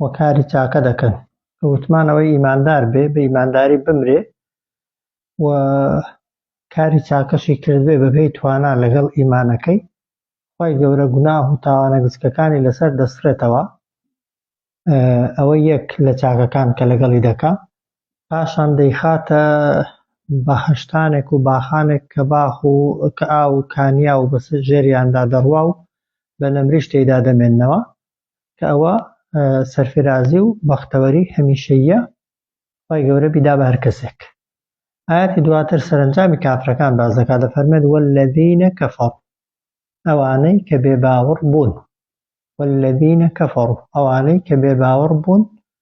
و کاری چاکە دەکەن کە وتمان ئەوەی ئیماندار بێ بە ئیمانداری بمرێ و کاری چاکەشی کردبێ بەبێ توانا لەگەڵ ئیمانەکەی خی گەورە گوناه و تاوانە گچکەکانی لەسەر دەسرێتەوە ئەوە یەک لە چاکەکان کە لەگەڵی دەکا پاشان دەیخاتە بەهەشتانێک و باخانێک کە باخ و کە ئاو و کانیاو بە سەر ژێریاندا دەڕوا و بە نەمریش تێیدا دەمێننەوە کە ئەوە سەرفرازی و بەختەوەری هەمیشەییە خوای گەورە بیدا بە هەر کەسێک ئاەتی دواتر سەرنجامی کافرەکان باز دەکات دەفەرمێت والذینە کەفەڕ ئەوانەی کە بێ باوەڕ بوون والذینە کەفەڕ ئەوانەی کە بێ باوەڕ بوون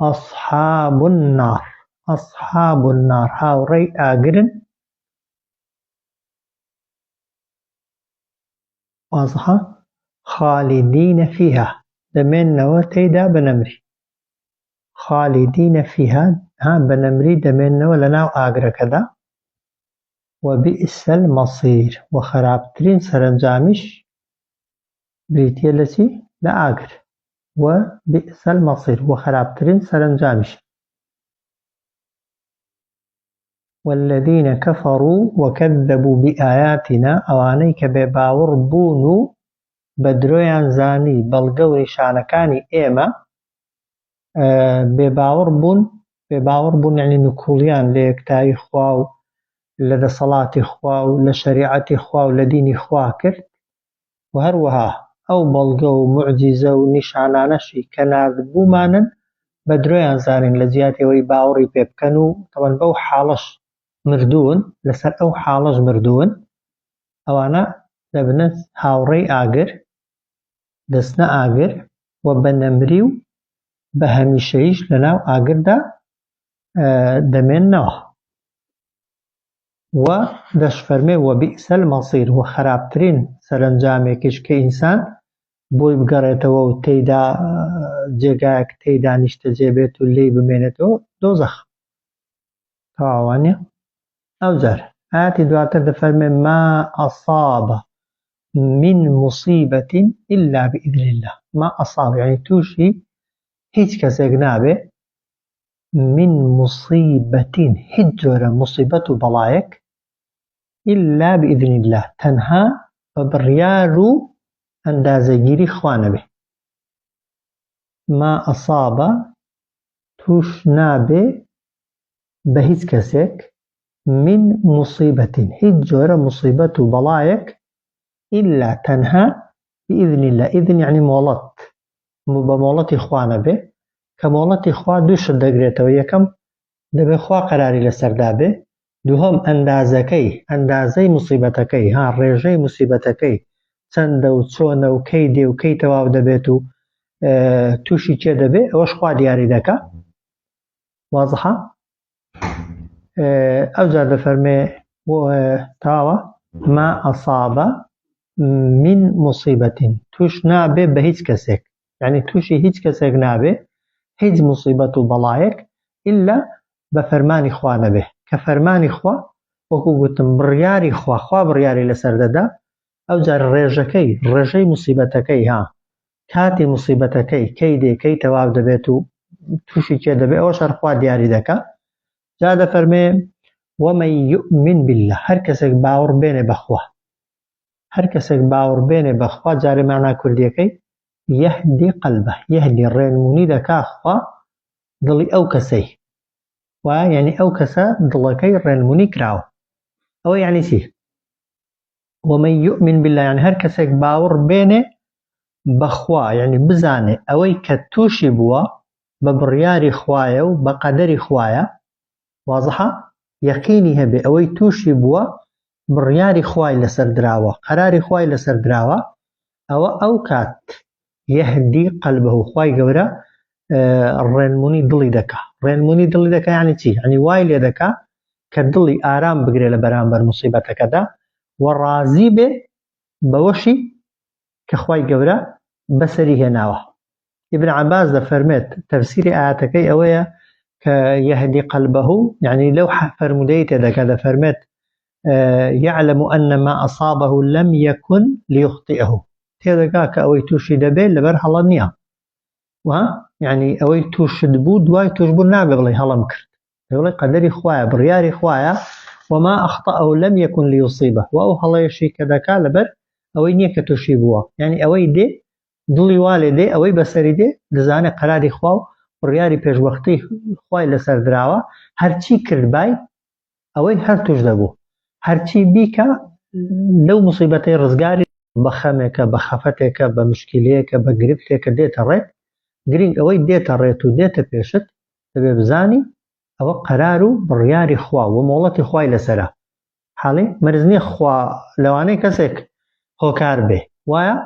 اصحاب النار اصحاب النار هاوڕێی ئاگرن وازحە خالدین فیها دەمێنەوە تێیدا بەنەمری خالدین فیها ها بەنەمری دەمێنەوە لە ناو ئاگرەکەدا وبئس المصير وخرابترین سەرەنجامیش بریتیە لە چی لە ئاگر و بئس المصیر و خراپترین سەرەنجامیشە. والذین کفروا وکذبوا بئایاتنا ئەوانەی کە بێ باوڕ بوون و بە درۆیان زانی بەڵگە و نیشانەکانی ئێمە بێ باوڕ بوون بێ باوڕ بوون یعنی نکوڵیان لە یەکتایی خوا و لە دەسەڵاتی خوا و لە شەریعەتی خوا و لە دینی خوا کرد و هەروەها ئەو بەڵگە و موعجیزە و نیشانانەشی کە ناردبوومانن بە درۆیان زانین لە جیاتی ئەوەی باوەڕی پێ بکەن و تەبەن بەو حاڵەش مردوون، لەسەر ئەو حاڵەش مردوون، ئەوانە دەبنە هاوڕێی ئاگر، دەچنە ئاگر و بە نەمری و بە هەمیشەییش لەناو ئاگردا دەمێننەوە. و دەشفەرمێ، وبئس المصیر، و خەراپترین سەرەنجامێکیش کە ئینسان بۆی بگەڕێتەوە و تێیدا جێگایەک تێیدا نیشتەجێ بێت و لێی بمێنێتەوە دۆزەخە. تەواو وانیە؟ ئەوجار ئایەتی دواتر دەفەرمێ، ما اصاب من مصیبە الا بإذن اللە، ما اصاب یانی تووشی هیچ کەسێک نابێ من مصیبە هیچ جۆرە موسیبەت و بەڵایەک الا باذن اللە تەنها بە بڕیار و ئەندازەگیری خوا نەبێ ما اصاب توش نابێ بە هیچ کەسێک من مصیبە هیچ جۆرە موسیبەت و بەڵایەک الا تەنها باذن اللە اذن یعنی مۆڵەت بە مۆڵەتی خوا نەبێ، کە مۆڵەتی خوا دوو شت دەگرێتەوە، یەکەم، دەبێ خوا قەراری لەسەردا بێ، دووهەم، ئەندازەکەی، ئەندازەی موسیبەتەکەی، ها، ڕێژەی موسیبەتەکەی چەندە و چۆنە و کەی دێ و کەی تەواو دەبێت و تووشی کێ دەبێ، ئەوەش خوا دیاری دەکا. وازحە؟ ئەوجا دەفەرمێ تاوە ما ئەسابە من موسیبەتین توش نابێ بە هیچ کەسێک یعنی تووشی هیچ کەسێک نابێ هیچ موسیبەت و بەڵایەک ئللا بە فەرمانی خوا نەبێ کە فەرمانی خوا وەکو گوتم بڕیاری خواخوا بڕیاری لەسەر دەدا ئەوجا ڕێژەکەی، ڕێژەی موسیبەتەکەی، ها، کاتی موسیبەتەکەی، کەی دێ، کەی تەواو دەبێت و تووشی کێ دەبێت، ئەوەش هەر خوا دیاری دەکا. جا دەفەرمێ، ومن یومن باللە، هەر کەسێک باوەڕ بێنێ بە خوا، هەر کەسێک باوەڕ بێنێ بە خوا، جارێ مانا کوردییەکەی، یەهدی قەلبە، یەهدی ڕێنموونی دەکا خوا دڵی ئەو کەسەی، وایە یەعنی ئەو کەسە دڵەکەی ڕێنموونی کراوە. ئەوە یەعنی چی؟ ومن یومن باللە یانی هەر کەسێک باوڕ بێنێ بەخوا یعنی بزانێ ئەوەی کە تووشی بووە بە بڕیاری خوایە و بە قەدەری خوایە وازحە یەقینی هەبێ ئەوەی تووشی بووە بڕیاری خوای لەسەر دراوە قەراری خوای لەسەر دراوە ئەوە ئەو کات یهدی قلبه خوای گەورە ڕێنمونی دڵی دەکا ڕێنمونی دڵی دەکا یعنی چی یعنی وای لێ دەکا کە دڵی ئارام بگرێ لە بەرامبەر مصیبەتەکەدا و ڕازی بێ بەوەشی کە خوای گەورە بەسەری هێناوە ابن عباس دەفەرمێت تەفسیری ئاەتەکەی ئەوەیە کە یهدی قلبه یعنی لەو فەرمودەی تێدەکە دەفەرمێت یعلم ان ما اصابه لم یکن لیخطئه تێدەگا کە ئەوەی تووشی دەبێت لەبەر هەڵە نییە و یعنی ئەوەی تووشت بوو دوای توشبوو نابێ بڵێ هەڵم کرد دەڵێ قەدەری خوایە بڕیاری خوایە وما اخطا او لم يكن ليصيبه و ئەو هەڵەیەشی کە دەکا لەبەر ئەوەی نییە کە تووشی بووە یعنی ئەوەی دێ دڵی والێ دێ ئەوەی بەسەری دێ دەزانە قەراری خوا و بڕیاری پێشوەختی خی لەسەر دراوە هەرچی کردبای ئەوەی هەر توش دەبوو هەرچی بیکا لەو مصیبەتەی ڕزگاری بە خەمێکە بە خەفەتێکە بە مشکیلەیەکە بە گرفتێکە دێتە ڕێت گرنگ ئەوەی دێتە ڕێت و دێتە پێشت دەبێ بزانی ئەوە قەرار و بڕیاری خوا و مۆڵەتی خوای لەسەرە حاڵی مەرز نییە خوا لەوانەیە کەسێک هۆکار بێ وایە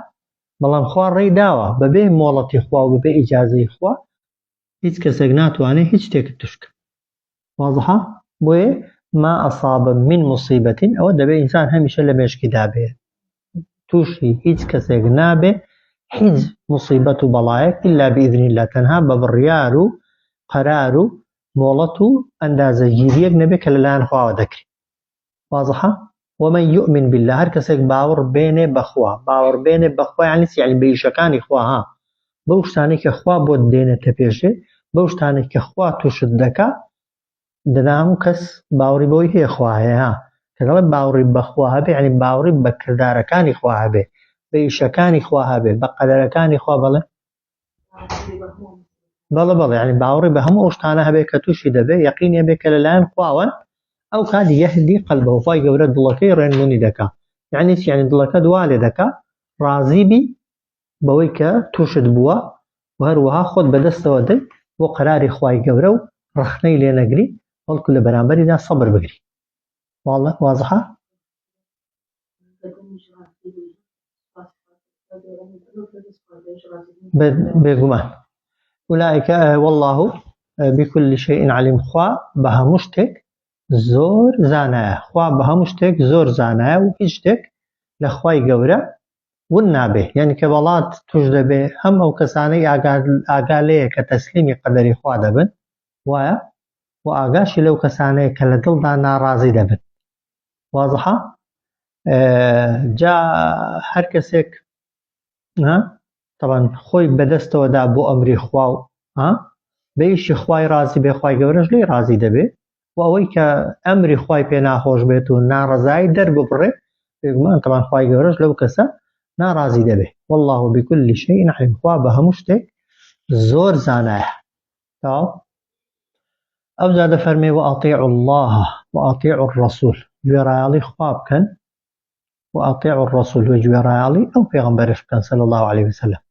بەڵام خوا ڕێی داوە بەبێ مۆڵەتی خوا و بەبێ ئیجازەی خوا هیچ کەسێک ناتوانێ هیچ شتێکت توش کە وازحە بۆیە ما ئەصاب من مصیبەت ئەوە دەبێ ئینسان هەمیشە لە مێشکی دابێ تووشی هیچ کەسێک نابێ هیچ مصیبەت و بەڵایەک ئللا بئذنی لە تەنها بە بڕیار و قەرار و مۆڵەت و ئەندازەگیریەک نەبێ کە لەلایەن خواوە دەکرێت وازحە؟ ومن یومن باللە هەر کەسێک باوڕ بێنێ بە خوا باوڕ بێنێ بە خوا یانی چی یانی بە ئیشەکانی خوا ها بەو شتانەی کە خوا بۆت دێنێتە پێشێ بەو شتانەی کە خوا تووشت دەکا دەنا هەموو کەس باوڕی بەوەی هەیە خوا هەیە ها کە دەڵێ باوڕی بە خوا هەبێ یانی باوڕی بە کردارەکانی خوا هەبێ بە ئیشەکانی خوا هەبێ بە قەدەرەکانی خوا بەڵێ بەڵە بەڵێ ینی باوەڕی بە هەموو ئەوشتانە هەبێت کە تووشی دەبێت یقینێ بێت کە لەلایەن خواوەن ئەو کات یهدی قەلبەوە خی گەورە دڵەکەی ڕێنمونی دەکا یعنی چیانی دڵەکە دوا لێ دەکا ڕازیبی بەوەی کە تووشت بووە و هەروەها خۆت بەدەستەوە دەی بۆ قەراری خی گەورە و ڕخنەی لێ نەگری بەڵکو لە بەرامبەریدا سەبر بگری واڵە وازها بێگومان ئولائیکە والله بكل شيء علیم خوا بە هەموو شتێک زۆر زانایە خوا بە هەموو شتێک زۆر زانایە و هیچ شتێک لە خوای گەورە ون نابێ یعنی کە بەڵات توش دەبێ هەم ئەو کەسانەی ئاگا لەیە کە تەسلیمی قەدەری خوا دەبن وایە و ئاگاشی لەو کەسانەیە کە لە دڵدا ناڕازی دەبن وازحە جا هەر کەسێک تەبەن خۆی بەدەستەوەدا بۆ ئەمری خوا و بەیشی خوای ڕازی بێ خی گەورەش لی ڕازی دەبێت و ئەوەی کە ئەمری خی پێ ناخۆش بێت و ناڕزایی دەرببڕێ بێگومان تەبان خی گەورەش لەو کەسە ناڕازی دەبێت والله بکل شيء علیم خوا بە هەموو شتێک زۆر زانایە تاو ئەوجا دەفەرمێ و ئەطیع الله و ئەطیع الرسول گوێڕایەڵی خوا بکەن و ئەطیع الرسول و گوێڕایەڵی ئەو پێغمبەرش بکەن صلی الله عليه وسلم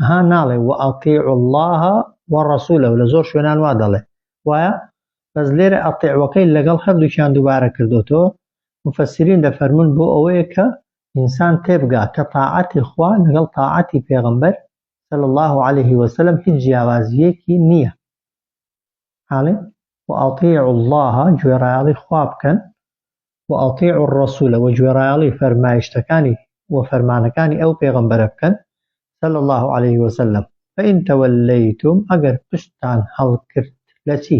ها ناڵێ و ئەطیع الله و رسوله لە زۆر شوێنان وا دەڵێ وایە بەس لێرە ئەطیعوەکەی لەگەڵ هەردووکیان دووبارە کردوتەوە مفسرین دەفەرمون بۆ ئەوەیە کە ئینسان تێبگا کە تاعەتی خوا لەگەڵ تاعەتی پێغمبەر صلی الله علیه وسلم هیچ جیاوازیەکی نییە حاڵێ وأطیعوا الله گوێڕایەڵی خوا بکەن وأطیعوا الرسول و گوێڕایەڵی فەرمایشتەکانی و فەرمانەکانی ئەو پێغەمبەرە بکەن صلی الله علیه وسلم فإن توليتم ئەگەر پشتتان هەڵکرد لەچی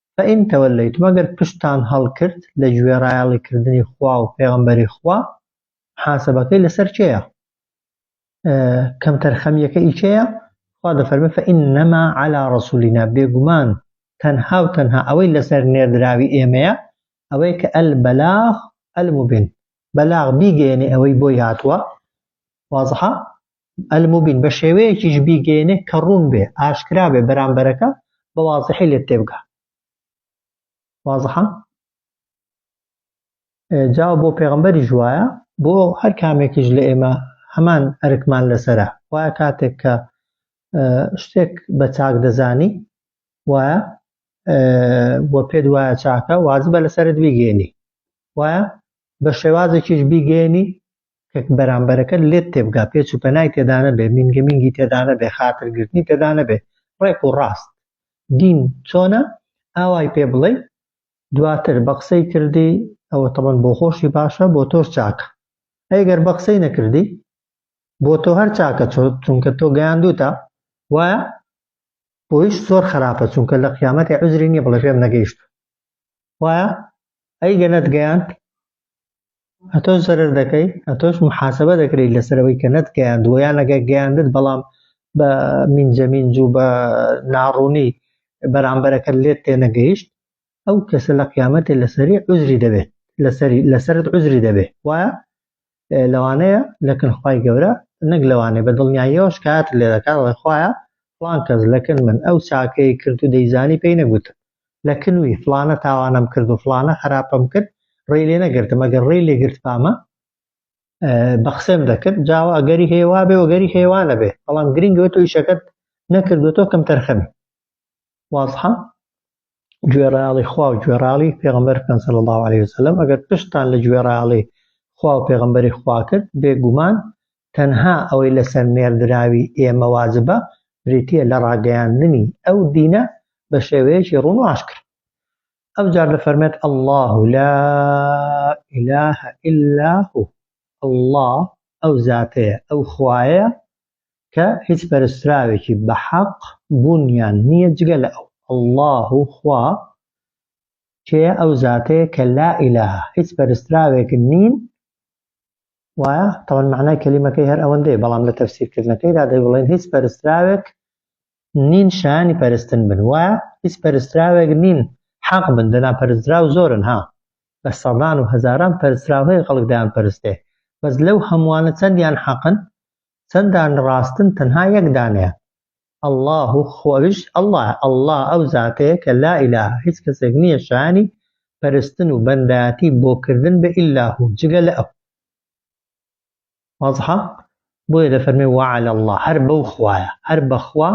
فَإِن تَوَلَّیتُم ئەگەر پشتتان هەڵکرد لە گوێڕایەڵی کردنی خوا و پێغەمبەری خوا محاسەبەکەی لەسەر کێیە؟ کەمتەرخەمیەکە ئی کێیە؟ خوا دەفەرمێ فإنما علی رسولنا بێگومان تەنها و تەنها ئەوەی لەسەر نێردراوی ئێمەیە ئەوەیە کە البلاغ المبین بەلاغ بیگەیەنێ ئەوەی بۆی هاتووە واضحە المبین بە شێوەیەکیش بیگەێنێ کە ڕوون بێ ئاشکرا بێ بەرامبەرەکە بە وازحی لێت تێبگا وازحە جا بۆ پێغمبەری ژواە بۆ هەر کامێکیش لە ئێمە هەمان ئەرکمان لەسرە وایە کاتێک کە شتێک بە چاک دەزانی وایە بۆ پێت وایە چاکە وازبە لەسرت بیگەێنی وایە بە شێوازێکیش بیگەێنی کە بەرامبەرەکەت لێت تێبگا، پێچ و پەنای تێدا نەبێ، مینگە مینگی تێدا نەبێ، خاتر گرتنی تێدا نەبێ، ڕێک و ڕاست دین چۆنە ئاوای پێ بڵێی، دواتر بە قسەی کردی ئەوە تەبەن بۆ خۆشی باشە بۆ تۆش چاکە، ئەی گەر بە قسەی نەکردی بۆ تۆ هەر چاکە چونکە تۆ گەیاندووتە وایە بۆیش زۆر خراپە چونکە لە قیامەتی عوزری نییە بڵێ پێم نەگەیشتوو وایە ئەی گە نەتگەیاند ئەتۆش زەرەر دەکەی ئەتۆش محاسبە دەکرێت لەسەر ئەوەی کە نەت گەیاندووە یان ئەگەر گەیاندت بەڵام بە مینجەمینج و بە ناڕوونی بەرامبەرەکە لێت تێنەگەیشت ئەو کەسە لە قیامەتێ لەسەری عزری دەبێت لەسەری لەسرت عزری دەبێت وایە لەوانەیە لەکن خی گەورە نەک لەوانێ بە دڵنیاییەوە شکات لێ دەکات ڵێخواە پلان کەس لەکن من ئەو چاکەی کرد و دەیزانی پێی نەگوتم لە کنوی فڵانە تاوانەم کرد و فڵانە خەراپەم کرد ڕێی لێ نەگرتم ئەگەر ڕێی لێ گرتبامە بە قسەم دەکرد جاوە ئەگەری هەیە وابێ وەگەری هێوانە بێ بەڵام گرنگەوە تۆ ئیشەکەت نەکردوەوە تۆ کەم تەرخەمی وازحە گوێڕاڵی خوا و گوێڕاڵی پێغمبەر بکەن صلی الله عليه وسلم ئەگەر پشتتان لە گوێڕاڵی خوا و پێغمبەری خوا کرد بێگومان تەنها ئەوەی لەسەر نێردراوی ئێمە واجبە بریتیە لە ڕاگەیاندنی ئەو دینە بە شێوەیەکی ڕوون و ئاشکرا ئەوجار دەفەرمێت اللە لا اله الا هو اللە ئەو زاتەیە ئەو خوایە کە هیچ پەرستراوێکی بە حەق بوونیان نییە جگە لە ئەو اللە خوا کێ ئەو زاتەیە کە لا ئیلاها هیچ پەرستراوێک نین وایە؟ تەبەن مەعنای کەلیمەکەی هەر ئەوەندەیە، بەڵام لە تەفسیرکردنەکەیدا دەیبڵێن هیچ پەرستراوێک نین شایانی پەرستن بن، وایە؟ هیچ پەرستراوێک نین حەق بن، دەنا پەرستراو زۆرن ها، بە سەدان و هەزاران پەرستراو هەیە خەڵک دەیانپەرستێ، بەس لەو هەمووانە چەندیان حەقن؟ چەندان ڕاستن؟ تەنها یەک دانەیان. اللە و خۆ ئەویش اللە یە، اللە ئەو زاتەیە کە لا ئیلە هیچ کەسێک نیە شایانی پەرستن و بەندایەتی بۆ کردن بە ئیلا هو جگە لە ئەو. واضحە؟ بۆیە دەفەرمێ وعلی اللە هەر بەو خوایە، هەر بە خوا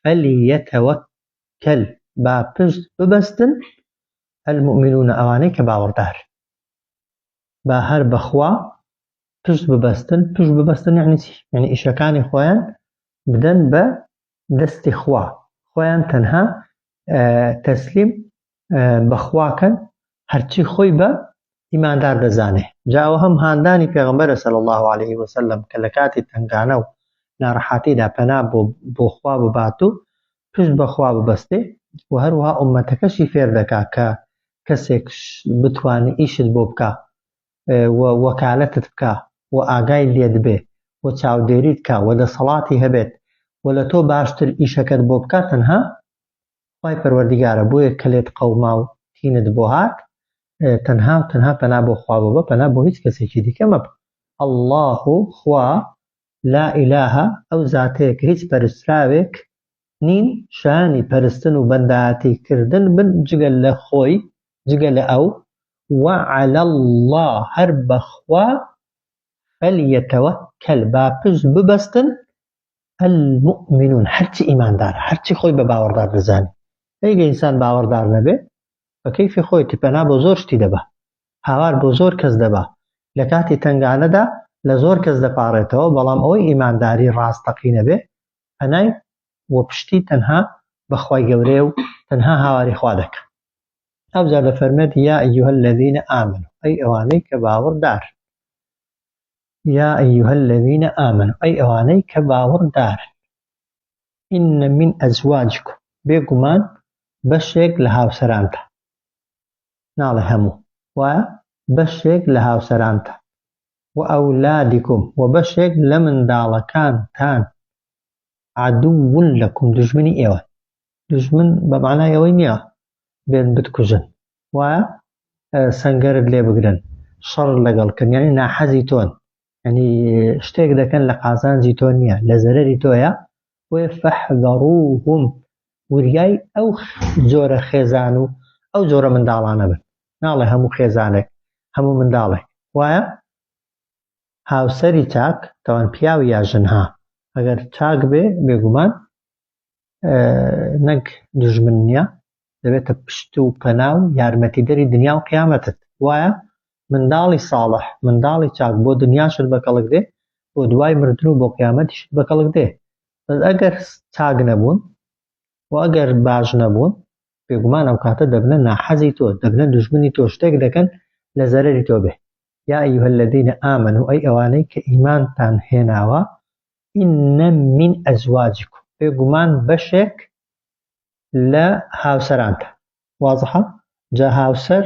فلیتوکل با پشت ببەستن المومنون ئەوانەی کە باوەڕدارن. با هەر بە خوا پشت ببەستن، پشت ببەستن یەعنی چی؟ یەعنی ئیشەکانی خۆیان بدەن بە دەستی خوا خۆیان تەنها تەسلیم بە خواکەن هەرچی خۆی بە ئیماندار دەزانێ جاوە هەم هاندانی پێغمبەرە سەل الله عليه وسلم کە لە کاتی تنگانە و ناڕەحاتیدا پەنا بۆ بۆخوا ببات و پشت بەخوا ببەستێ و هەروها ئومەتەکەشی فێر دەکا کە کەسێک بتوانانی ئیشت بۆ بکە و وەکالەتت بکا و ئاگای لێت بێ و چاودێریت کا و دەسەڵاتی هەبێت و لە تۆ باشتر ئیشەکەت بۆ بکا تەنها خوای پەروەردیگارە بۆیە کە لێت قەوما و تینت بۆ هات تەنها و تەنها پەنا بۆ خوا ببە پەنا بۆ هیچ کەسێکی دیکە مەبە اللە خوا لا ئیلاهە ئەو زاتەیە کە هیچ پەرستراوێک نین شایانی پەرستن و بەندایەتی کردن بن جگە لە خۆی جگە لە ئەو وە عەلی اللە هەر بەخوا فەلیەتەوەکەل با پشت ببەستن المؤمنون هەرچی ئیماندارە هەرچی خۆی بە باوەڕدار دەزانێ ئەی گە ئینسان باوەڕدار نەبێ بە کەیفی خۆیەتی پەنا بۆ زۆر شتی دەبا، هاوار بۆ زۆر کەس دەبا، لە کاتی تەنگانەدا لە زۆر کەس دەپاڕێتەوە، بەڵام ئەوەی ئیمانداری ڕاستەقینە بێ پەنای و پشتی تەنها بە خوای گەورەیە و تەنها هاواری خوا دەکا. ئەوجا دەفەرمێت، یا ایها الذین آمنوا، ئەی ئەوانەی کە باوەڕدارن، یا ایها الذین آمنوا، ئەی ئەوانەی کە باوەڕدارن. ان من ازواجکم بێگومان بەشێک لە هاوسەرانتان، ناڵێ هەموو، وایە، بەشێک لە هاوسەرانتان، و اولادکم و بەشێک لە منداڵەکانتان، عدو لکم دوژمنی ئێوەن، دوژمن بە مەعنای ئەوەی نییە بێن بتکوژن، وایە، سەنگەرت لێ بگرن، شەڕت لەگەڵ بکەن، یانی ناحەزی تۆن، یعنی شتێک دەکەن لە قازانجی تۆ نییە لە زەرری تۆیە وێ فەحدەڕوهم وریای ئەو جۆرە خێزان و ئەو جۆرە منداڵانە بن ناڵێ هەموو خێزانێک هەموو منداڵێک وایە هاوسەری چاک تەوان پیاو یا ژنها ئەگەر چاک بێ بێگومان نەک دژمن نییە دەبێتە پشت و پەنا و یارمەتیدەری دنیا و قیامەتت وایە منداڵی ساڵح منداڵی چاک بۆ دنیاشت بە کەڵک دێ بۆ دوای مردن و بۆ قیامەتیشت بە کەڵک دێ بەس ئەگەر چاک نەبوون و ئەگەر باش نەبوون بێگومان ئەو کاتە دەبنە ناحەزی تۆ دەبنە دوژمنی تۆ شتێک دەکەن لە زەرەری تۆ بێ یا ئەیها الذین آمنوا ئەی ئەوانەی کە ئیمانتان هێناوە ان من ازواجکم بێگومان بەشێک لە هاوسەرانتە وازحە جا هاوسەر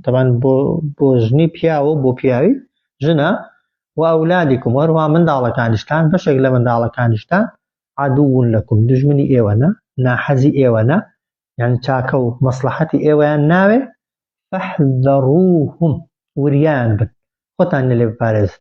تەبان بۆ بۆ ژنی پیاوە بۆ پیاوی ژنە و ئەولادیکم وەروە منداڵەکانیشتان بەشێک لە منداڵەکانیشتان عادوون لەکم دژمنی ئێوەنە ناحەزی ئێوەنە یان چاکە و مەسلحەتی ئێوەیان ناوێ فەحذەڕوهم وریان بن خۆتان لێ بپارێزن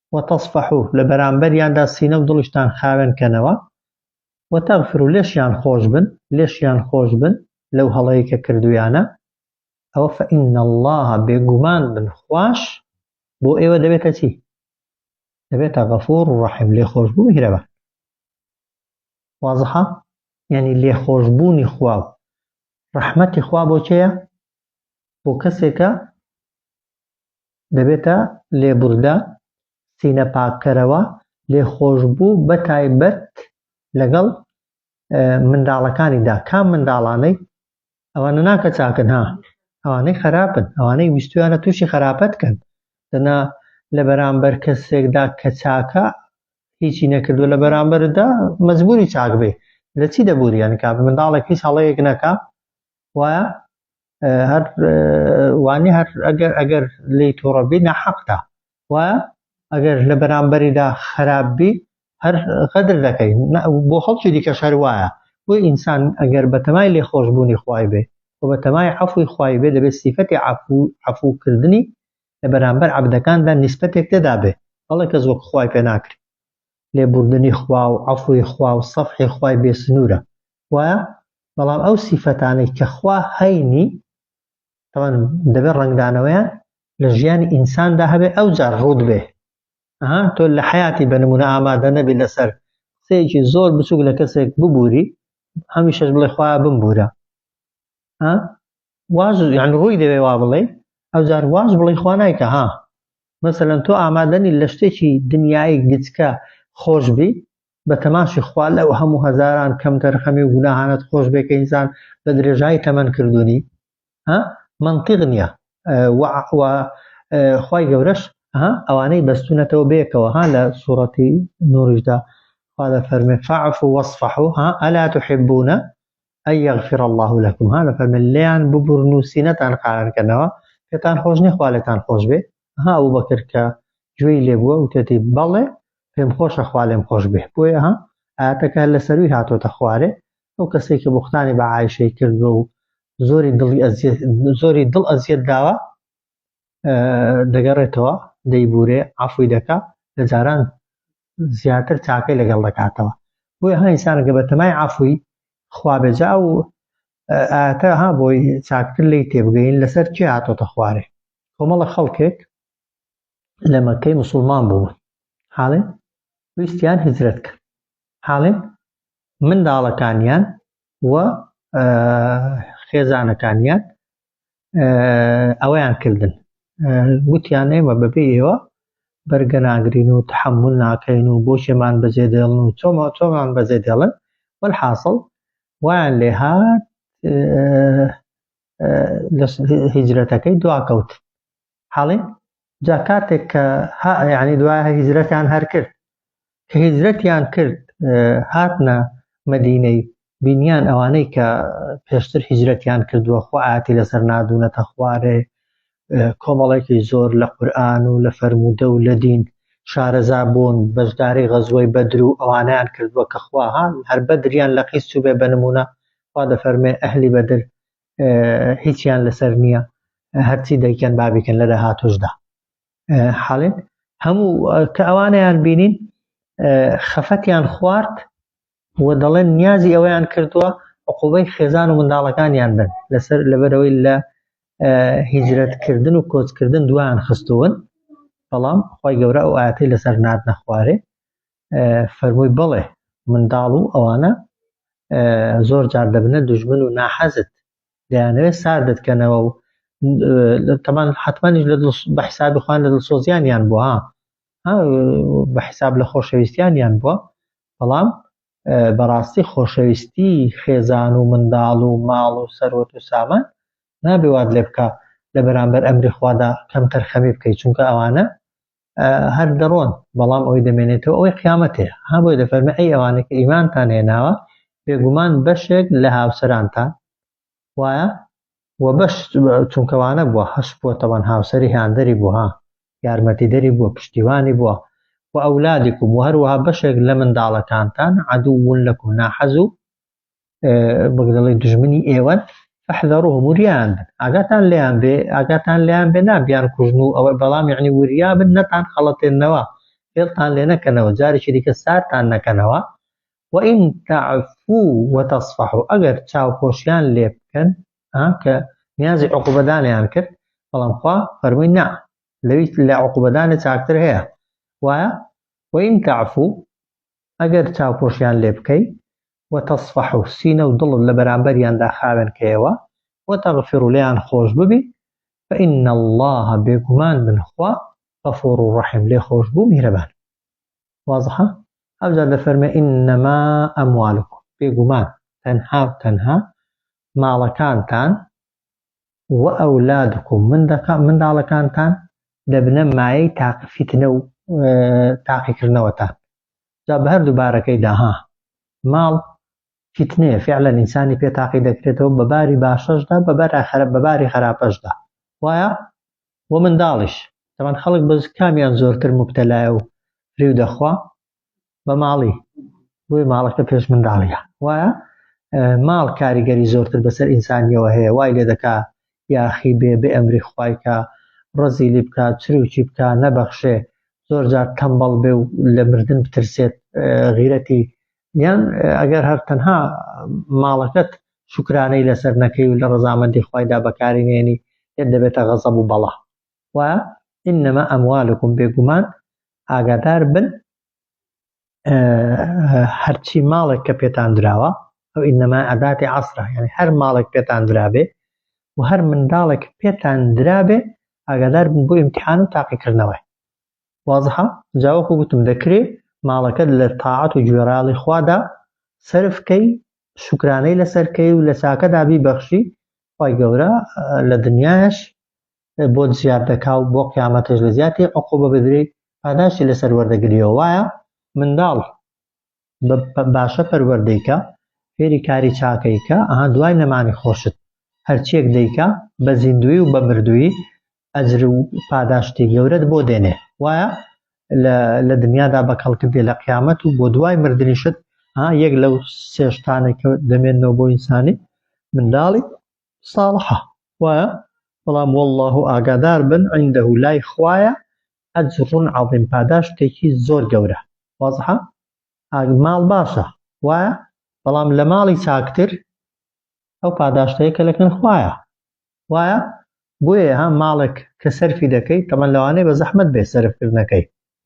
وتەسفەحو لە بەرامبەریاندا سینە و دڵیشتان خاوێن کەنەوە، وتەغفرو لێشیان خۆش بن، لێشیان خۆش بن لەو هەڵەی کە کردویانە، ئەوە فەئن اللە بێگومان من خواش بۆ ئێوە دەبێتە چی؟ دەبێتە غەفور ڕەحیم لێخۆشبوو میهرەبان. وازحە؟ یانی لێخۆشبوونی خوا و ڕەحمەتی خوا بۆ کێیە؟ بۆ کەسێکە دەبێتە لێبوردە، سینە پاککەرەوە، لێخۆشبوو بەتایبەت لەگەڵ منداڵەکانیدا، کام منداڵانەی؟ ئەوانە نا کە چاکن ها، ئەوانەی خەراپن، ئەوانەی ویستویانە تووشی خەراپەت کەن، دەنا لە بەرامبەر کەسێکدا کە چاکە هیچی نەکردووە لە بەرامبەردا مەجبوری چاک بێ، لە چی دەبوری یانی کابرا منداڵێک هیچ هەڵەیەک نەکا وایە هەر وانی هەر ئەگەر ئەگەر لی تووڕەبی نەحەقدا وە ئەگەر لە بەرامبەریدا خراپ بی هەر غەدر دەکەی بۆ خەڵکی دیکەش هەر وایە بۆی ئینسان ئەگەر بەتەمای لێ خۆشببوونی خوای بێ و بەتەمای عفوی خوای بێ دەبێت سیفەتی عفو عفوکردنی لە بەرامبەر عبدەکاندا نیسبەتێک تێدا بێ بەڵێ کەس وەک خوای پێ ناکری لێبوردنی خوا و عفوی خوا و سەفحی خوای بێ سنوورە وایە بەڵام ئەو سیفەتانەی کە خوا هەینی تاوان دەبێت ڕەنگدانەوەیان لە ژیانی ئینساندا هەبێ ئەو جار ڕوود بێ ئەها تۆ لە حیاتی بە نمونە ئامادە نەبی لەسەر قسەیەکی زۆر بچوک لە کەسێک ببووری هەمیشەش بڵێ خوا بمبورە واز یان ڕووی دەوێ وا بڵێ ئەو جار واز بڵێ خوا نایکە ها مەسەلەن تۆ ئامادەنی لە شتێکی دنیای گچکە خۆشببی بە تەماشی خوا لەو هەموو هەزاران کەم تەرخەمی و گوناهانەت خۆش بێ کە ئینسان بە درێژایی تەمەن کردوونی ها مەنتیق نییە و خوای گەورەش ها ئەوانەی بەستونەتەوە بێکەوە ها لە سوڕەتی نوریشدا خوا دەفەرمێ فاعف وەصفح ها ئەلا تحبونە ئەی یغفر اللە لەکم ها دەفەرمێت لێیان ببورن و سینەتان قارنکەنەوە پێتان خۆش نیە خوا لێتان خۆش بێ ها ئەو بەکر کە گوێی لێ بووە وتێتی بەڵێ پێم خۆشە خوا لێم خۆش بێ بۆیە ها ئاتەکە لە سەروی هاتۆتە خوارێ ئەو کەسێک کە بختانی بە عیشەی کردوە و زۆری دڵی زۆری دڵ ئەزیەت داوە دەگەڕێتەوە دەیبورێ عفوی دەکا لە جاران زیاتر چاکەی لەگەڵ دەکاتەوە بۆیە ها ئینسانەکە بە تەمای عەفوی خوا بێ جا ئەو ئاتە ها بۆی چاکتر لی تێبگەین لەسەر چێ هاتۆتە خوارێ کۆمەڵە خەڵکێک لە مەکەی مسلمان بوون حاڵێن ویستیان هجرەت کرد حاڵێن منداڵەکانیان و خێزانەکانیان ئەوەیان کردن گوتیان ئێمە بەبێ ئێوە بەرگە ناگرین و تحمل ناکەین و بۆچێمان بەجێ دێڵن و چۆمە چۆمان بەجێ دێڵن وەحاصل وایان لێ هات هجرەتەکەی دواکەوت حاڵی جا کاتێک کە یعنی دوای هیجرەتیان هەر کرد کە هیجرەتیان کرد هاتنە مدینەی بینیان ئەوانەی کە پێشتر هیجرەتیان کردووە خۆ ئاتی لەسەر نادونەتە خوارێ کۆمەڵێکی زۆر لە قورآن و لە فەرموودە و لە دین شارەزا بوون بەشداری غەزوەی بەدر و ئەوانیان کردووە کە خواهان هەر بەدریان لە قیس چوبێ بە نمونە خوا دەفەرمێ ئەهلی بەدر هیچیان لەسەر نییە هەرچی دەیکەن بابیکەن لە داهاتوشدا حاڵێن هەموو کە ئەوانیان بینین خەفەتیان خوارد و دەڵێن نیازی ئەوەیان کردووە عقوبەی خێزان و منداڵەکانیان بن لەسەر لەبەرەوەی لە هیجرەتکردن و کۆچکردن دویان خستون بەڵام خی گەورە ئەو ئاەتی لەسەر نات نەخوارێ فەرمووی بەڵێ منداڵ و ئەوانە زۆر جار دەبنە دوژمن و ناحەزت دەیانەوێت ساردت کەنەوە و تەمان حتممانیش لە بە حسابی خوان لە دڵسۆزیانیان بووە بە حساب لە خۆشەویستیانیان بووە بەڵام بەڕاستی خۆشەویستی خێزان و منداڵ و ماڵ و سەرۆت و سامان نابێوات لێ بکە لە بەرامبەر ئەمری خوادا کەم تەرخەمی بکەیت چونکە ئەوانە هەر دەڕۆن بەڵام ئەوی دەمێنێتەوە ئەوەی قیامەتێ ها بۆی دەفەرمە ئەی ئەوانێک ئیمانتان هێناوە بێگومان بەشێک لە هاوسەرانتان وایە و بەش چونکەوانە بووە هەش بووە تەوان هاوسری هاندەری بوو ها یارمەتی دەری بووە پشتیوانی بووە و ئەولادێکم و هەروەها بەشێک لە منداڵەکانتان عدوون لەکم ناحەز و وەک دەڵێ دژمنی ئێوەن فحذروه وریان بن ئاگاتان لێیان بێ ئاگاتان لێیان بێ نابیان کوژن و ئەوە بەڵام یعنی وریا بن نەتان خەڵەتێنەوە فێڵتان لێ نەکەنەوە جارێکی دیکە سارتان نەکەنەوە وئین تعفو وتصفح ئەگەر چاوپۆشیان لێ بکەن کە نیازی عقوبەدانیان کرد بەڵام خوا فەرمووی نا لەوی لە عقوبەدانە چاکتر هەیە وایە وئین تعفو ئەگەر چاوپۆشیان لێ بکەی، وتەسفەح و سینە و دڵت لەبەرامبەریاندا خاوێن کەیەوە، وتغفر و لێیان خۆش ببی، فان اللە بێگومان من خوا غفور و رحیم لێ خۆش بوو میهرەبانم. واضحە؟ ئەوجا دەفەرمێ انما اموالکم بێگومان تەنها و تەنها ماڵەکانتان وئەولادکم، منداڵەکانتان دەبنە مایەی تاقی فیتنە و تاقیکردنەوەتان، جا بە هەردوو بارەکەیدا، ها، ماڵ، فیتنەیە، فیعلەن ئینسانی پێ تاقی دەکرێتەوە بە باری باشەشدا بە باری خەراپەشدا، وایە؟ وە منداڵیش، تەبعەن خەڵک بەس کامیان زۆرتر موبتەلایە و فریو دەخوا، بە ماڵی بۆی ماڵەکە پێش منداڵیە وایە ماڵ کاریگەری زۆرتر بەسەر ئینسانیەوە هەیە وای لێ دەکا یاخی بێ بێ ئەمری خوایکە ڕزی لی بکات چروکی بکە نەبەخشێ زۆر جار تەمبەڵ بێ و لە مردن بترسێت غیرەتی یان ئەگەر هەر تەنها ماڵەکەت شکرانەی لەسەر نەکەی و لە ڕزامەندی خوایدا بەکاری نێنی یان دەبێتە غەزەب و بەڵا و انما اموالکم بێگومان ئاگادار بن هەرچی ماڵێک کە پێتان دراوە ئەو انما ئەداتی عصرە یعنی هەر ماڵێک پێتان درابێ و هەر منداڵێک پێتان درابێ ئاگادار بن بۆ امتحان و تاقیکردنەوەی وازحە جاوەکو گوتم دەکرێ ماڵەکەت لە تاعات و گوێڕاڵی خوادا سرفکەی شکرانەی لەسەرکەی و لە چاکەدا بیبەخشی خی گەورە لە دنیاش بۆت زیاد دەکا و بۆ قیامەتش لە زیاتی عقوبە بدرێ پاداشتی لەسەر وەردەگریەوە وایە منداڵ باشە پەروەردەیکە فێری کاری چاکەیکە ئەها دوای نەمانی خۆشت هەرچێک دەیکە بە زیندوی و بە مردووی ئەجر و پاداشتی گەورەت بۆ دێنێ وایە لە دنیادا بە کەڵکت دێ لە قیامەت و بۆ دوای مردنیشت یەک لەو سێشتانێک دەمێنەوە بۆ ئینسانی منداڵی صالحە وایە بەڵام واللە ئاگادار بن عنده لای خوایە اجر عظیم پاداشتێکی زۆر گەورە وازحە ماڵ باشە وایە بەڵام لە ماڵی چاکتر ئەو پاداشتەیە کە لەکن خوایە وایە بۆیە ها ماڵێک کە سەرفی دەکەیت تەمەن لەوانەیە بە زەحمت بێ سەرفکردنەکەی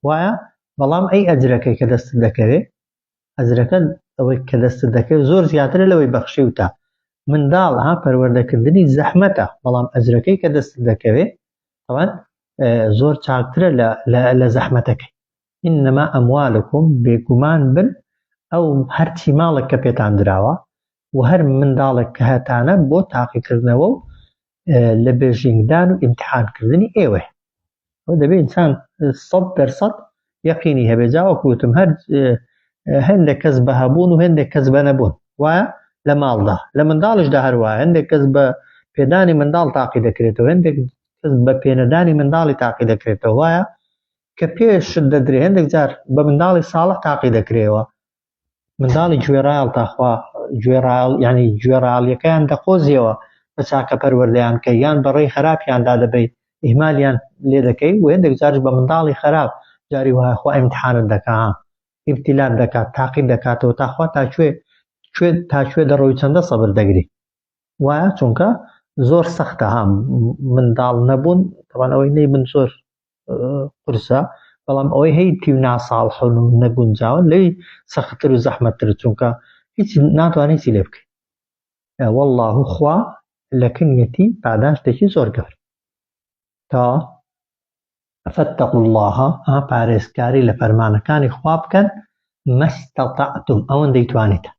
وایە بەڵام ئەی ئەجرەکەی کە دەستت دەکەوێت ئەجرەکەت ئەوەی کە دەستت دەکەوێت زۆر زیاترە لەوەی بەخشیوتە منداڵ ها پەروەردەکردنی زەحمەتە بەڵام ئەجرەکەی کە دەستت دەکەوێت ئەوان زۆر چاکترە لە زەحمەتەکەی ئینەما ئەموالکم بێگومان بن ئەو هەرچی ماڵک کە پێتان دراوە و هەر منداڵک کە هەتانە بۆ تاقیکردنەوە و لە بێژینگدان و ئیمتحانکردنی ئێوەیە ئەو دەبێت ئینسان سەد دەرسەد یەقینی هەبێ جاوەکوتم هەر هەندێک کەس بە هەبوون و هەندێک کەس بە نەبوون وایە لە ماڵدا لە منداڵشدا هەروە هەندێک کەس بە پێدانی منداڵ تاقی دەکرێتەوە هەندێک کەس بە پێنەدانی منداڵی تاقی دەکرێتەوە وایە کە پێشت دەدرێ هەندێک جار بە منداڵی ساڵح تاقی دەکرێەوە منداڵی گوێڕایەڵ تاخوا گوێڕایەڵ یعنی گوێڕایەڵیەکەیان دەقۆزیەوە بە چاکە پەروەردەیان کەی یان بە ڕێی خراپیاندا دەبەی ئیهمالیان لێ دەکەی و هێندێک جارش بە منداڵی خراپ جاری وایە خوا ئیمتحانت دەکا ئیبتیلات دەکات تاقیت دەکاتەوە تاخوا تا کوێ کوێ تا کوێ دەڕۆی چەندە سەبر دەگری وایە چونکە زۆر سەختە هەم منداڵ نەبوون تەوان ئەوەی نەی من زۆر قورسە بەڵام ئەوەی هەی تیو ناساڵ حون و نەگونجاون لەی سەختتر و زەحمەتتر چونکە هیچ ناتوانانی چی لێ بکەین والله خوا لە کنیەتی پاداشتێکی زۆر گەور تا فاتقوا الله ها پارێزکاری لە فەرمانەکانی خوا بکەن مەستەتعتم ئەوەندەی توانیتە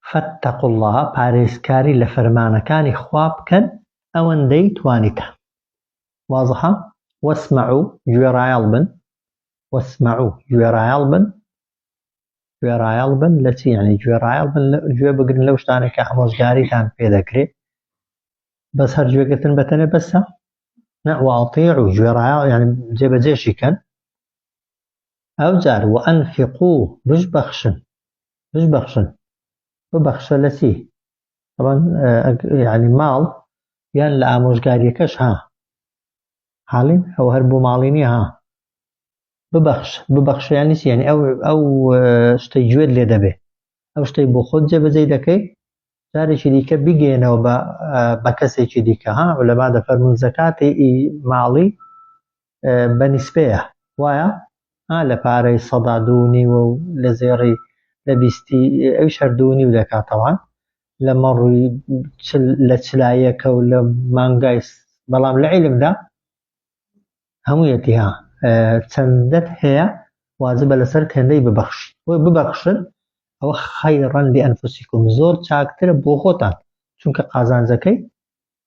فاتقوا اللە، پارێزکاری لە فەرمانەکانی خوا بکەن ئەوەندەی توانیتان. واضحە؟ واسمعوا، گوێڕایەڵ بن. واسمعوا، گوێڕایەڵ بن. گوێڕایەڵ بن لە چی؟ یانی گوێڕایەڵ بن، گوێ بگرن لەو شتانە کە ئامۆژگاریتان پێ دەکرێت. بەس هەر گوێگرتن بەتەنێ بەسە؟ نە، واطیعوا، گوێڕایەڵ یانی جێبەجێشی کەن. ئەوجار وانفقو بشبەخشن بشبەخشن ببەخشە لە چی طبعا یعنی ماڵ یان لە ئامۆژگاریەکەش ها حاڵین ئەو هەر بۆ ماڵی نیە ها ببەخش ببەخشیانی چی یعنی ئەو ئەو شتەی گوێت لێ دەبێ ئەو شتەی بۆ خۆت جێبەجێی دەکەی جارێکی دیکە بگەێنەوە بە کەسێکی دیکە ها لەما دەفەرمون زەکاتی ماڵی بە نیسبەیە وایە؟ ها لە پارەی سەدا دوو و نیوە و لە زێڕی لە بیستی ئەویش هەر دوو و نیو دەکات تەوان لە مەڕووی لە چلایەکە و لە مانگای بەڵام لە عیلمدا هەموویەتی ها چەندەت هەیە واجبە لەسەر کەندەی ببەخش بۆی ببەخشن ئەوە خەیڕەن لە ئەنفسیکم زۆر چاکترە بۆ خۆتان چونکە قازانجەکەی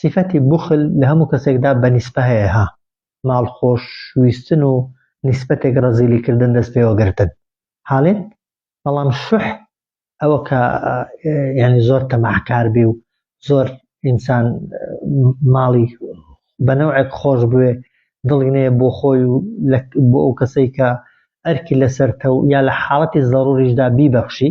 سیفەتی بوخل لە هەموو کەسێکدا بە نیسبە هەیە ها ماڵ خۆش ویستن و نیسبەتێک ڕەزیلی کردن دەست پێوە گرتن حالێت بەڵام شوح ئەوە کە یعنی زۆر تەماحکار بی و زۆر ئینسان ماڵی بە نەوعێک خۆش بوێ دڵی نەیە بۆ خۆی و بۆ ئەو کەسەی کە ئەرکی لەسەرتە و یا لە حاڵەتی زەڕوریشدا بیبەخشی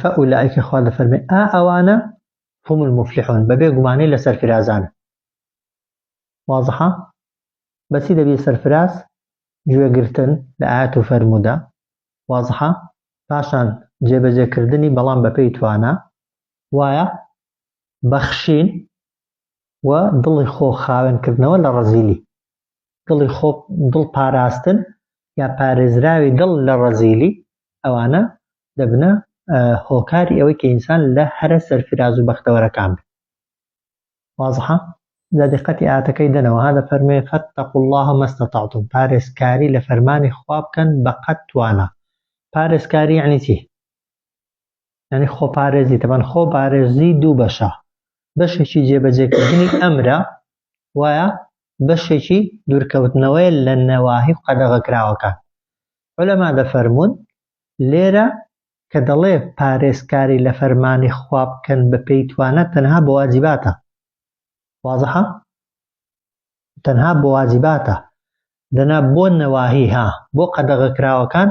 فەئولائیکە خوا دەفەرمێ ئا ئەوانە هم المفلحون بەبێ گومانی لە سەرفرازانە واضحە بەچی دەبی سەرفراز گوێگرتن لە ئاەت و فەرمودا واضحە پاشان جێبەجێکردنی بەڵام بەپێی توانە وایە بەخشین و دڵی خۆ خاوێنکردنەوە لە ڕەزیلی دڵی خۆ دڵ پاراستن یا پارێزراوی دڵ لە ڕەزیلی ئەوانە دەبنە هۆکاری ئەوەی کە ئینسان لە هەرە سەرفراز و بەختەوەرەکان بێت وازحە لە دقەتی ئاتەکەی دەنەوە هادە فەرمێ فەتەق الله مەستەتاعتم پارێزکاری لە فەرمانی خوا بکەن بە قەت توانە پارێزکاری عنی چی ینی خۆپارێزی تەبەن خۆ پارێزی دوو بەشە بەشێکی جێبەجێکردنی ئەمرە وایە بەشێکی دوورکەوتنەوەیە لە نەواهی قەدەغەکراوەکان. عولەما دەفەرموون، لێرە کە دەڵێ پارێزکاری لە فەرمانی خوا بکەن بە پێی توانا تەنها بۆ واجباتە. وازحە؟ تەنها بۆ واجباتە. دەنا بۆ نەواهی ها، بۆ قەدەغەکراوەکان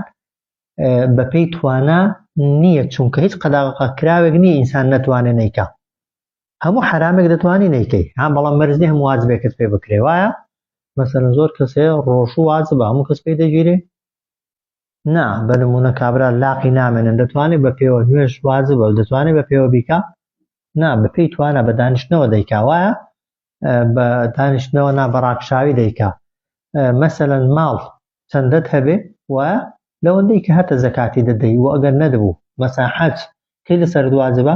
بە پێی توانا نییە، چونکە هیچ قەدەغەکراوێک نییە ئینسان نەتوانێ نەیکا. هەموو حرامێک دەتوانانی نیکەی ها بەڵام مەرزنی هەموو واجبێکت پێ بکرێ وایە مەسەن زۆر کەسێ ڕۆژ و واز بە هەموو کەس پێی دەگیرێ نا بە نمونە کابرا لاقی نامێنن دەتوانێت بە پێوە نوێش واز بە دەتوانێت بە پێوە بیکە نا بە پێی توانە بە دانیشتنەوە دەیکا وایە بە دانیشتنەوە نا بەڕاکشاوی دەیکا مەسەەن ماڵ چەندەت هەبێ و لەوەندەی کە هەتە زەکاتی دەدەی و ئەگەر نەدەبوو مەسا حەج کەی لەسەر دوازبە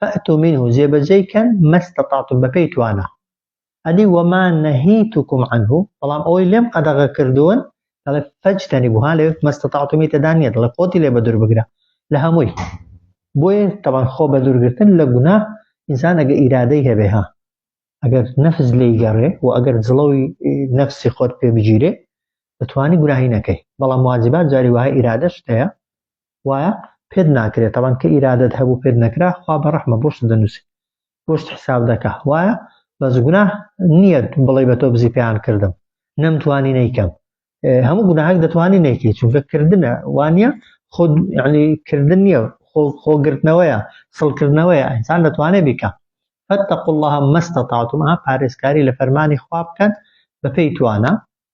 فاتو منه جێبەجێی کەن مەستەتاتوم بەپێی توانا ئەدی وەما نەهیتوکم عنه بەڵام ئەوەی لێم قەدەغە کردوون دەڵێ فەجتەنیبو ها لەوێ مەستەتاتومی تێدا نییە دەڵێ خۆتی لێ بەدوور بگرە لە هەمووی بۆیە تەبان خۆ بەدوورگرتن لە گونا ئینسان ئەگە ئیرادەی هەبێ ها ئەگەر نەفس لێی گەڕێ و ئەگەر جڵەوی نەفسی خۆت پێ بگیرێ دەتوانی گوناهی نەکەی بەڵام واجبات جاری وایە ئیرادەش هەیە وایە پێت ناکرێ تەبەن کە ئیرادەت هەبوو پێت نەکرا خوا بە ڕەحمە بۆشت دەنووسی بۆشت حساب دەکا وایە بەس گونا نییە بڵێ بە تۆ بزی پێیان کردم نەمتوانی نەیکەم هەموو گوناهک دەتوانانی نەیکەی چونکە کردنە وانە خود ینی کردن نییە خۆگرتنەوەیە سڵکردنەوەیە ئەسان دەتوانێت بیکە فەتەق الله مەستە تاعتمها پارێزکاری لە فەرمانی خوا بکەن بەپی توانە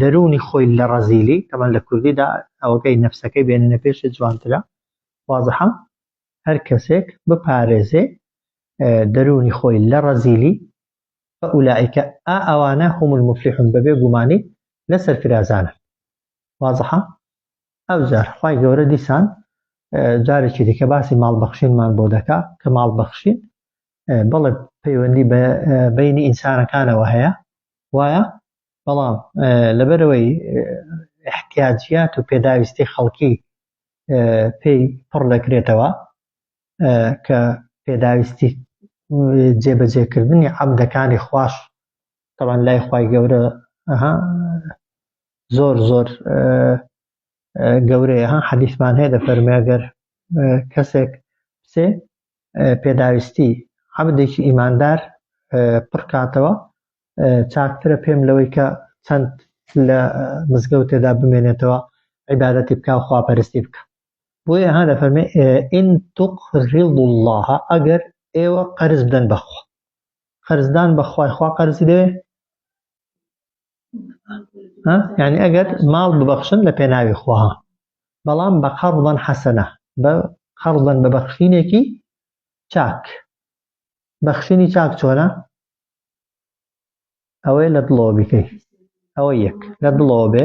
دەروونی خۆی لە ڕەزیلی تەمەن لە کوردیدا ئەوەکەی نەفسەکەی بێنە پێشێ جوانترە وازحە هەر کەسێک بپارێزێ دەروونی خۆی لە ڕەزیلی فەئولائیکە ئا ئەوانە هم المفلحون بەبێ گومانی لە سەرفرازانە وازحە ئەو جار خی گەورە دیسان جارێکی دیکە باسی ماڵبەخشینمان بۆ دەکا کە ماڵبەخشین بەڵێ پەیوەندی بە بەینی ئینسانەکانەوە هەیە وایە بەڵام لەبەرەوەی احتیاجیات و پێداویستی خەڵکی پێی پڕ دەکرێتەوە کە پێداویستی جێبەجێکردنی عەبدەکانی خواش تەوان لای خی گەورە زۆر زۆر گەورەیە حەدیثمان هەیە دەفەرمێگەر کەسێک سێ پێداویستی عەبدێکی ئیماندار پڕکاتەوە چاکترە پێم لەوەی کە چەند لە مزگەوتێدا بمێنێتەوە عیبادەتی بکە و خواپەرستی بکە بۆیە ها دەفەرمێ ئین تقرض الله ئەگەر ئێوە قەرز بدەن بەخوا قەرزدان بەخوای خوا قەرزی دەوێ یعنی ئەگەر ماڵ ببەخشن لە پێناوی خوا بەڵام بە قەڕڵەن حەسەنە بە قەڕڵەن بە بەخشینێکی چاک بەخشینی چاک چۆنە ئەوەی لە دڵەوە بیکەی ئەوە یەک لە دڵەوە بێ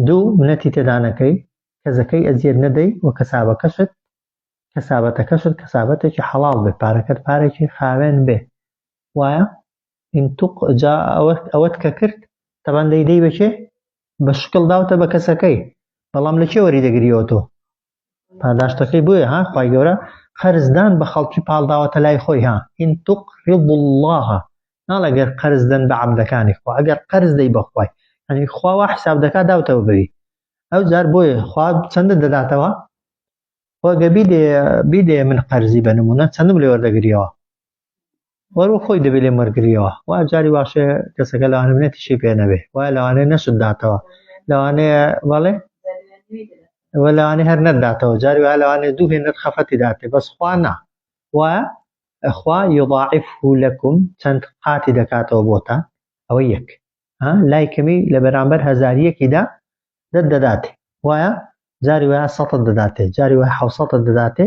دوو منەتی تێدانەکەی کەزەکەی ئەزیێت نەدەی و کەسابەکەشت کەسابەتەکەشت کەسابەتێکی حەڵال بێ پارەکەت پارێکی خاوێن بێ وایە ان تق جا ئەوەت ئەوەت کە کرد تەبان دەی دەی بە کێ بە شکڵ داوتە بە کەسەکەی بەڵام لە کێ وەری دەگریەوە تۆ پاداشتەکەی بۆیە ها خوای گەورە قەرزدان بە خەڵکی پاڵداوەتە لای خۆی ها ان تق رض الله ناڵێ گەر قەرز دەن بە عەبدەکانی خوا ئەگەر قەرز دەی بەخوای ئەنی خواوا حساب دەکات داوتەوە بوی ئەو جار بۆیە خوا چەندە دەداتەوە خۆگە بیدێ بیدێ من قەرزی بە نمونە چەندم لێ وەردەگریەوە وەرو خۆی دەبێ لێم وەرگریەوە وا جاری واشێ کەسەکە لەوانە منەتیشی پێ نەبێ وا لەوانێ نەشت داتەوە لەوانێ بەڵێ وە لەوانێ هەر نەداتەوە جاری وا لەوانێ دوو هێ نەت خەفەتی داتێ بەس خوا نا وا خوا یضاعف لەکم چەند قاتی دەکاتەوە بۆتان ئەوە یەک لای کەمی لە بەرامبەر هەزاریەکیدا دەت دەداتێ وایە جاری وایە سەتە دەداتێ جاری وای حوسەتە دەداتێ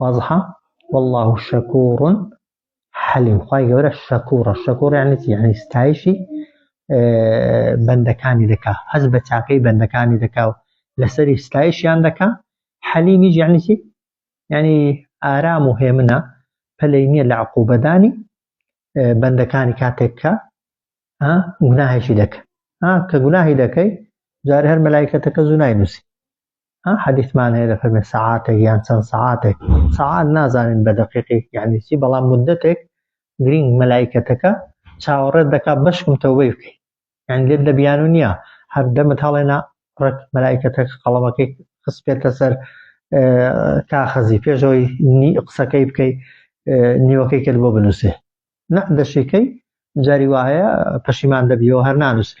وازحە واللە شکور حلیم خوای گەورە شکورە شکور یعنی چی یعنی ستایشی بەندەکانی دەکا هەز بە چاکەی بەندەکانی دەکا و لەسەری ستایشیان دەکا حەلیمی یعنی چی یعنی ئارام و هێمنە پەلەی نییە لە عقوبەدانی بەندەکانی کاتێککە گوناهێکی دەکە کە گوناهی دەکەی جارە هەر مەلایکەتەکە زوو ناینوسی ها حەدیثمان هەیە دەفەرمێ سەعاتێک یان چەند سەعاتێک سەعات نازانین بە دەقیقی یعنی چی بەڵام مدەتێک گرینگ مەلایکەتەکە چاوەڕێت دەکا بەشکم تەوبەی بکەیت یعنی لێت لە بیانو نییە هەر دەمت هەڵێنا ڕێک مەلایکەتەکە قەڵەمەکەی خسپێتە سەر کاخەزی پێشەوەی قسەکەی بکەیت نیوەکەی کرد بۆ بنووسێ نە دەشێکەی جاری وایە پەشیمان دەبیەوە هەر نانووسێ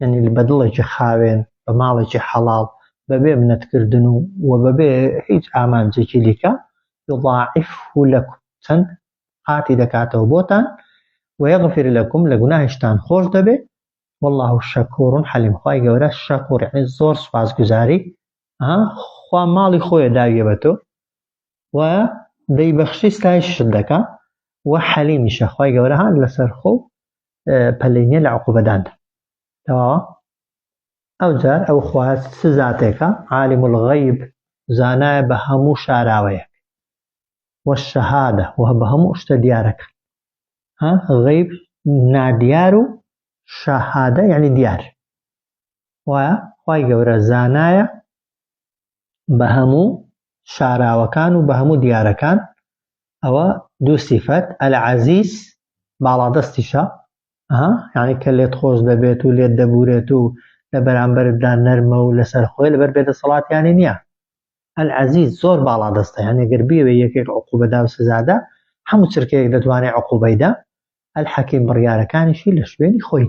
یانی بە دڵێکی خاوێن، بە ماڵێکی حەڵاڵ، بە بێ منەت کردن و و بە بێ هیچ ئامانجێکی دیکە، یضاعفه لکم، چەند قاتی دەکاتەوە بۆتان، ویغفر لکم، لە گوناهیشتان خۆش دەبێ، واللە شکور حلیم، خوای گەورە شکور یانی زۆر سوپاسگوزاری، ها خوا ماڵی خۆیە داویە بە تۆ و دەیبەخشی ستایشیشت دەکا و حەلیمیشە، خوای گەورە ها لەسەرخۆ و پەلەی نیە لە عقوبەداندا تەواوە ئەوجار ئەو خوا چ زاتێکە عالم الغیب زانایە بە هەموو شاراوەیەک والشهادە و بە هەموو شتە دیارەکە ها غیب نادیار و شەهادە یعنی دیار وایە خی گەورە زانایە بە هەموو شاراوەکان و بە هەموو دیارەکان ئەوە دوو سیفەت ئەلعەزیز باڵادەستیشە ها یعنی کە لێت خۆش دەبێت و لێت دەبورێت و لە بەرامبەردا نەرمە و لەسەر خۆی لەبەر بێدەسەڵاتیانی نییە ئەلعەزیز زۆر باڵادەستە یعنی گەر بیەوێ یەکێک عقوبەدا و سزادا هەموو چرکەیەک دەتوانێت عقوبەیدا ئەلحەکیم بڕیارەکانیشی لە شوێنی خۆی